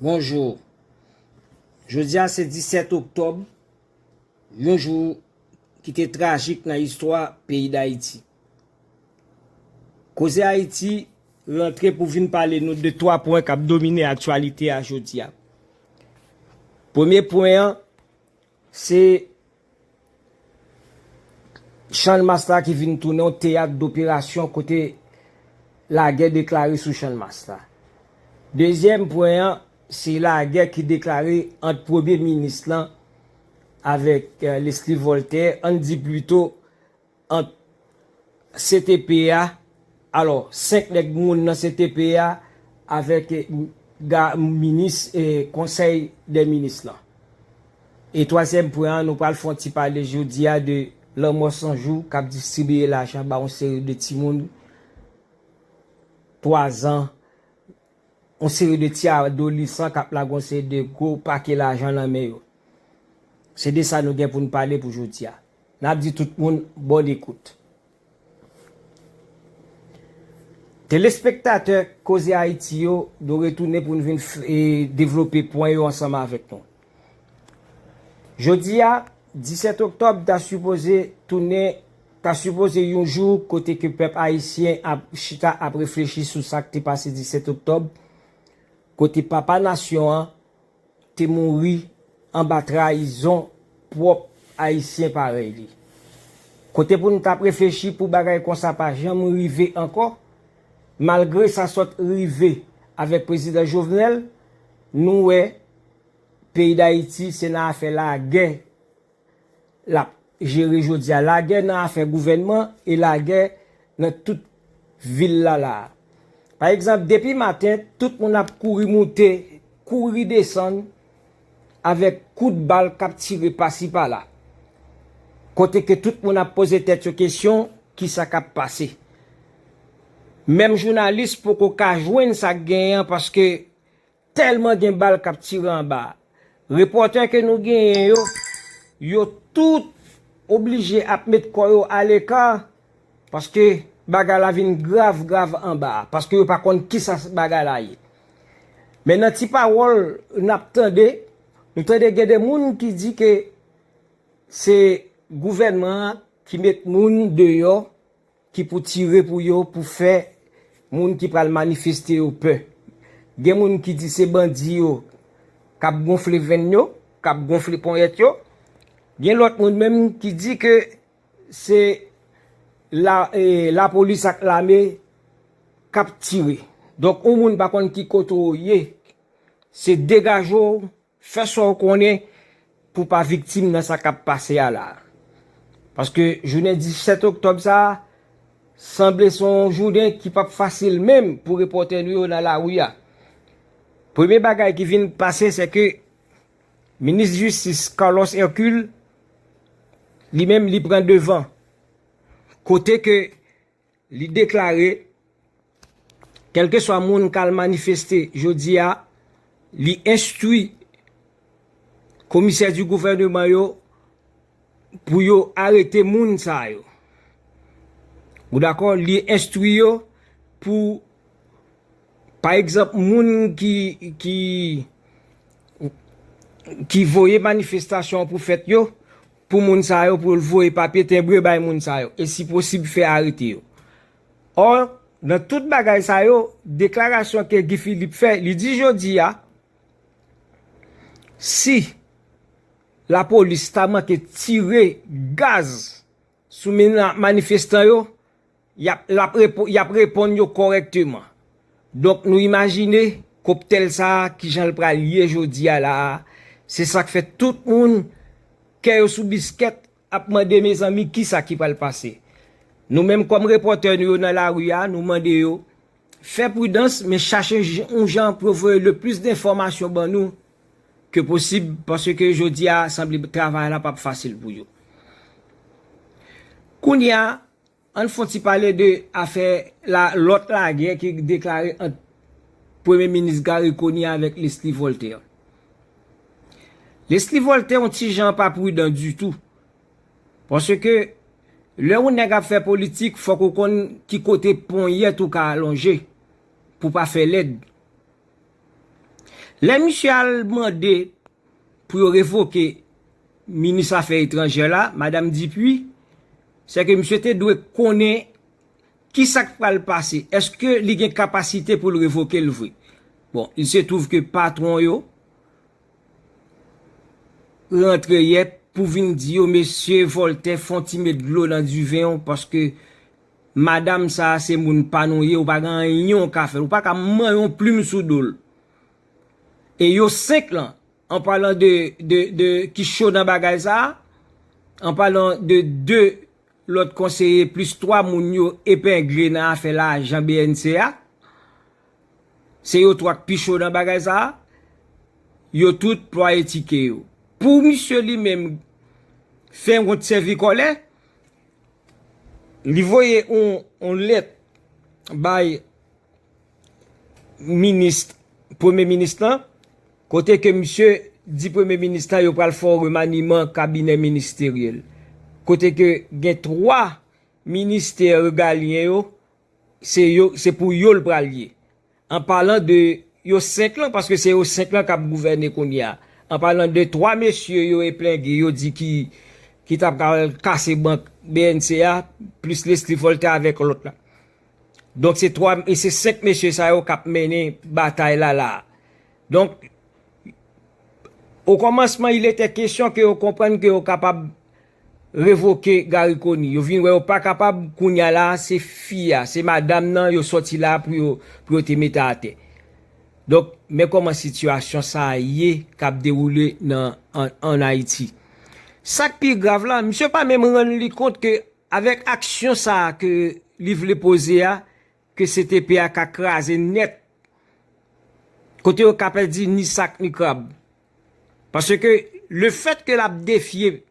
Bonjour. Jodi a se 17 oktòb, yon jou ki te trajik nan istwa peyi Dayiti. Koze Ayiti rantre pou vin pale nou de 3 pwen kap domine aktyalite a jodi a. Premye pwen an, Se Channmas la ki vin tounen yon teyat doperasyon kote lagè deklare sou Channmas la. Dezyèm pwen an, se lagè ki deklare ant premye minis lan avèk Leslie Voltaire, an n di plito, ant ctp a alò 5 nèg moun nan ctp a avèk ga minis konsèy dè minis lan e twazyèm pwen an nou pral fon ti pale jodia de lanmò sanjou kap distribiye lajan ba yon seri de timoun 3 zan yon seri de ti adolisan k ap lage yon seri de gwo pake lajan nan men yo. Se de sa nou gen pou n pale pou jodi a. N ap di tout moun bon ekout. Telespektatè Koze Ayiti yo, nou retounen pou n vin devlope pwen yo ansanm avèk nou. Jodi a, 17 oktòb ta sipoze tounen, ta sipoze yon jou kote ke pèp ayisyen ap chita ap reflechi sou sa k te pase 17 oktòb, kote papa nasyon an te mouri anba trayizon pwòp ayisyen parèy li. Kote pou n t ap reflechi pou bagay konsa pa janm rive ankò, malgre sa sot rive avèk Prezidan Jovenel, nou wè Peyi Dayiti se nan afè lagè l ap jere jodi a. Lagè nan afè gouvènman e lagè nan tout vil la la a. Pa egzanp, depi maten, tout moun ap kouri moute, kouri desann avèk kout bal k ap tire pasi pala. Kote ke tout moun ap poze tèt yo kesyon, kisa k ap pase? Menm jounalis poko ka jwenn sa k genyen an paske Tèlman gen bal kap tire anba a. Repòtè ke nou genyen yo, yo tout oblije ap met kò yo aleka paske bagay la vin grav grav anba a, paske yo pa konn kisa bagay la ye. Men nan ti pawòl nap tande, nou tande gen de moun ki di ke se gouvènman an ki met moun deyò Ki pou tire pou yo pou fè moun ki pral manifeste yo pè. Gen moun ki di se bandi yo k ap gonfle venn yo, k ap gonfle ponyèt yo. Gen lòt moun menm ki di ke se lapolis ak lame k ap tire. Donk yon moun pa konn ki kote w ye, se degaje w. Fè sa w konnen pou w pa viktim nan sa k ap pase a la a. Paske jounen 17 oktòb sa a, sanble se yon jounen ki p ap fasil menm pou repòtè nou yo nan lari a. Premye bagay ki vin pase se ke minis jistis Carlos Hercule li menm li pran devan. Kote ke Li deklare, Kèlkeswa moun k al manifeste jodi a, li enstwi komisè di gouvèneman yo pou yo arete moun sa yo. Ou dakò? Li enstwi yo pou, pa egzanp, moun ki voye manifestasyon an pou fèt yo, pou moun sa yo pou yo voye papye tenbre bay moun sa yo e si posib fè arete yo. Ò, nan tout bagay sa yo, deklarasyon ke Guy Philippe fè, li di jodi a, si lapolis ta manke tire gaz sou manifestan yo, Y ap reponn yo kòrèkteman. Donk nou imajine koptèl sa a ki jan l pral ye jodi a la a, se sa k fè tout moun kè yo sou biskèt ap mande mezanmi ki sa ki pral pase. Nou menm kòm repòtè nou yo nan lari a nou mande yo fè pridans men chache yon jan pou yo voye le plis denfòmasyon ban nou ke posib paske jodi a sanble travay la p ap fasil pou yo. Kounye a. Ann fon ti pale de afè la lòt lagè ki deklare ant Premye Minis Garry Conille avèk Leslie Voltaire. Leslie Voltaire yon ti jan pa prudan ditou. Paske lè yon nèg ap fè politik fòk ou konn ki kote ponyèt ou ka alonje pou pa fè lèd. Lè misye al mande pou yo revoke Minis Afè Etranjè la, Madam Dupuy, Se ke misye te dwe konnen ki sa k pral pase. Eske li gen kapasite pou l revoke l vre? Bon, il se trouve ke patwon yo rantre yè pou vin di yo, mesye Voltè fon ti met dlo nan diven w paske madam sa a se moun pa nou ye, ou pa gen anyen ou ka fè l. Ou pa ka manyen yon plim sou do l. E yo senk lan, An palan de, de, de, ki cho nan bagay sa a, an palan de 2 lòt konseye plis 3 moun yo epengle nan afè lajan bnc a, se yo 3 k pi cho nan bagay sa a, yo tout plwaye tike yo. Pou misye li menm fè wont sèvi kòlè, li voye yon lèt bay Premye Minis lan, kote ke misye di Premye Minis lan yo pral fè yon remaniman kabinè ministeryèl. Kote ke gen 3 ministè regalyen yo, se pou yo l pral ye. An palan de yo 5 lan, paske se yo 5 lan k ap gouvène kounye a. An palan de 3 mesye yo eplenge, yo di ki t ap kase bank bnc a, plis Leslie Voltaire avèk lòt la. Donk se 3, se 5 mesye sa yo kap mennen batay la la a. Donk, okomansman il etè kesyon ke yo konprann ke yo kapab revoke Gary Conille. Yo vin wè yo pa kapab, kounya la a se fi a, se madam nan yo sòti la a pou yo, pou yo te mete atè. Donk, men kòman sitiyasyon sa a ye kap dewoule nan, an Ayiti. Sak pi grav la, misye pa menm rann li kont ke Avèk aksyon sa a ke li vle poze a, ke ctp a ka kraze nèt, kote yo ka pèdi ni sak ni krab. Paske lefèt ke l ap defye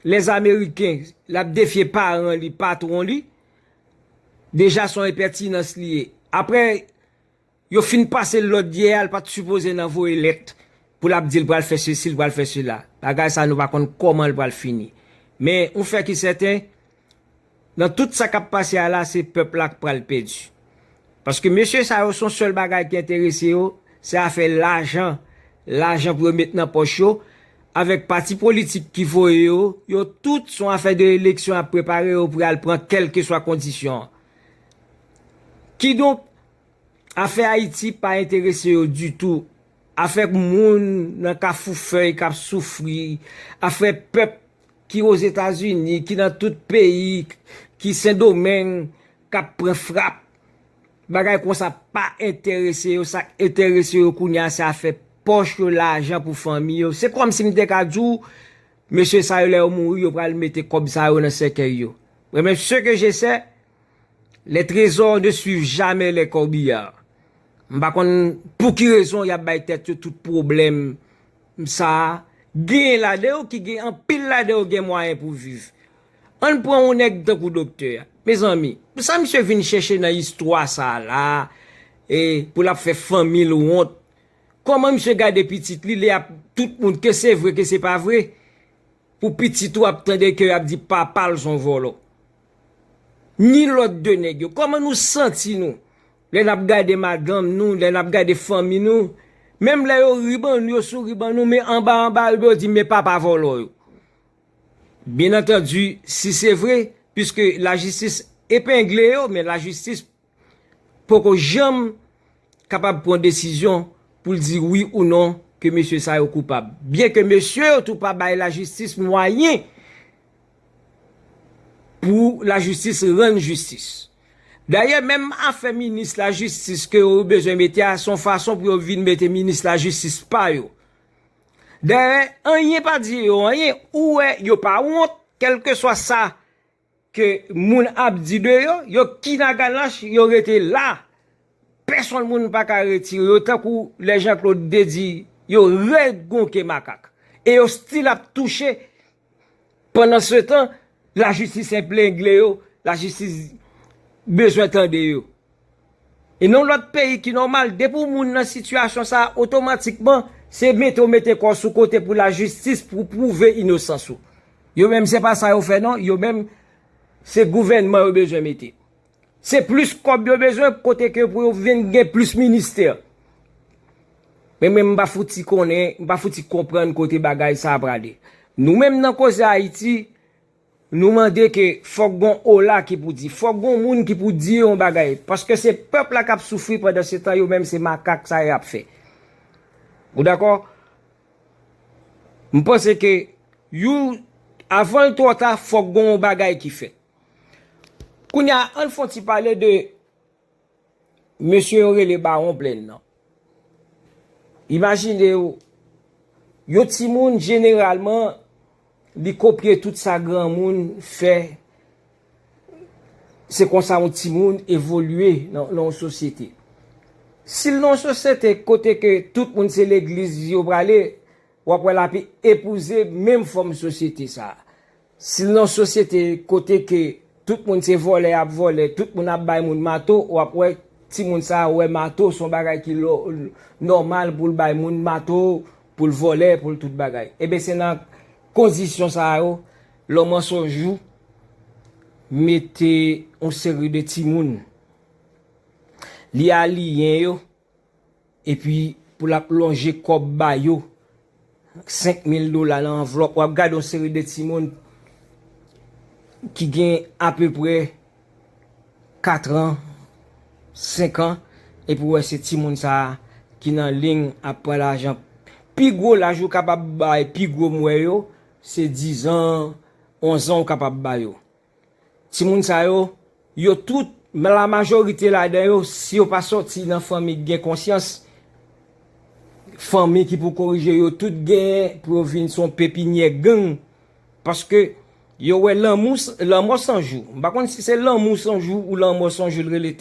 les Américains, l ap defye paran li, patwon li, deja s on enpètinans li ye. Apre. Yo fin pasel lòd yè a l pat sipoze nan voye lèt pou lap dil pral fè sesi l pral fè sela bagay sa nou pa konn kòmanl pral fini men yon fè ki sèten nan tout sa kap pase a la se pèp la k pral pèdi paske mesye sa yo son sèl bagay ki enterese yo se afè lajan lajan pou yo met nan pòch yo avèk pati politik ki voye yo yo tout son afè de eleksyon yap prepare yo pou yal pran kèlkeswa kondisyon an kidonk Afè Ayiti pa enterese yo ditou. Afè moun nan kafou fèy k ap soufri, afè pèp ki Ozetazini, ki nan tout peyi, ki Sendomeng k ap pran frap, bagay konsa pa enterese yo. Sa k enterese yo kounye a se afè pòch yo, lajan pou fanmi yo. Se kòmsi m te ka di w, mesye sa yo lè yo mouri yo pral mete kòb sa yo nan sèkèy yo. Mwen menm, se ke je sè. Les trésors ne suivent jamais les corbillards m pa konn pou ki rezon yap bay tèt yo tout pwoblèm sa genyen ladan yo ki gen anpil ladan yo gen mwayen pou viv ann pran yon nèg tankou doktè a mezanmi sa misye vin chèche nan istwa sa la e pou lap fè fanmi l wont kòman misye gade pitit li li ap tout moun ke se vre ke se pa vre pou pitit ou ap tande ke yap di papa l son vòlò. Ni lòt 2 nèg yo. Kòman nou santi nou lè nap gade madanm nou, lè nap gade fanmi nou, menm lè yo ri ban nou, yo souri ban nou, men anba anba yo yo di men papa vòlò yo. Byen antandi si se vre, piske lajistis epengle yo, men lajistis. poko janm kapab pran desizyon pou l di wi ou non ke mesye sa yo koupab. Byen ke mesye yo tou pa bay lajistis mwayen pou lajistis rann jistis. Dayè menm afè minis lajistis ke yo bezwen mete a son fason pou yo vin mete minis lajistis pa yo. Dayè anyen pa di yo anyen, ou wè yo pa wont kelkeswa sa. Ke moun ap di de yo, yo kinaganach, yo rete la. Pèsonn moun pa ka retire yo tankou lè Jean Claude te di yo rèd kon ke makak. E yo stil ap touche pandan se tan lajistis eplengle yo, lajistis bezwen tande yo. E nan yon lòt peyi ki nòmal depi yon moun nan sitiyasyon sa a otomatikman se mete w mete kò w sou kote pou lajistis pou w pwouve inosans ou. Yo menm se pa sa yo fè non, yo menm se gouvènman yo bezwen mete. Se plis kòb yo bezwen kote ke pou yo vin gen plis ministè. Men menm m pa fouti konnen, m pa fouti konprann kote bagay sa a prale. Nou menm nan koze Ayiti. Nou mande ke fòk gon ola ki pou di, fòk gon moun ki pou di yon bagay, paske se pèp la kap soufri pandan se tan yo menm se makak sa yap fè. Ou dakò? M panse ke you avan l twò ta fòk gon yon bagay ki fèt. Kounya an n fon ti pale de. Mesye yo rele bawon plenn nan. Imajine w, yon timoun jeneralman li kopye tout sa granmoun fè, se konsa yon timoun evolye nan yon sosyete. Si l nan yon sosyete kote ke tout moun se legliz yo prale, w ap wè l ape epouze menm fòm sosyete sa a. Si nan sosyete kote ke tout moun se vòlè yap vòlè, tout moun ap bay moun mato, wap wè timoun sa a wè mato son bagay ki nòmal pou l bay moun mato, pou l vòlè, pou l tout bagay. Eben se nan kondisyon sa a yo lòm an son jou mete yon seri de timoun li aliyen yo, Epi pou l ap lonje kòb ba yo, 5 mil dola nan anvlòp. W ap gade yon seri de timoun ki gen apeprè 4 an, 5 an, epi w wè se timoun sa a ki nan ling ap pran lajan. Pi gwo laj ou kapab bay pi gwo m wè yo, se 10 an, 11 an ou kapab ba yo. Timoun sa yo, yo tout, la majorite ladan yo, si yo pa sòti nan fanmi ki gen konsyans, fanmi ki pou korije yo, tout genyen pou yo vin son pepinyè gang, paske yo wè lanmou, lanmò san jou, m pa konn si se lanmou san jou ou lanmò san jou l rele tèt.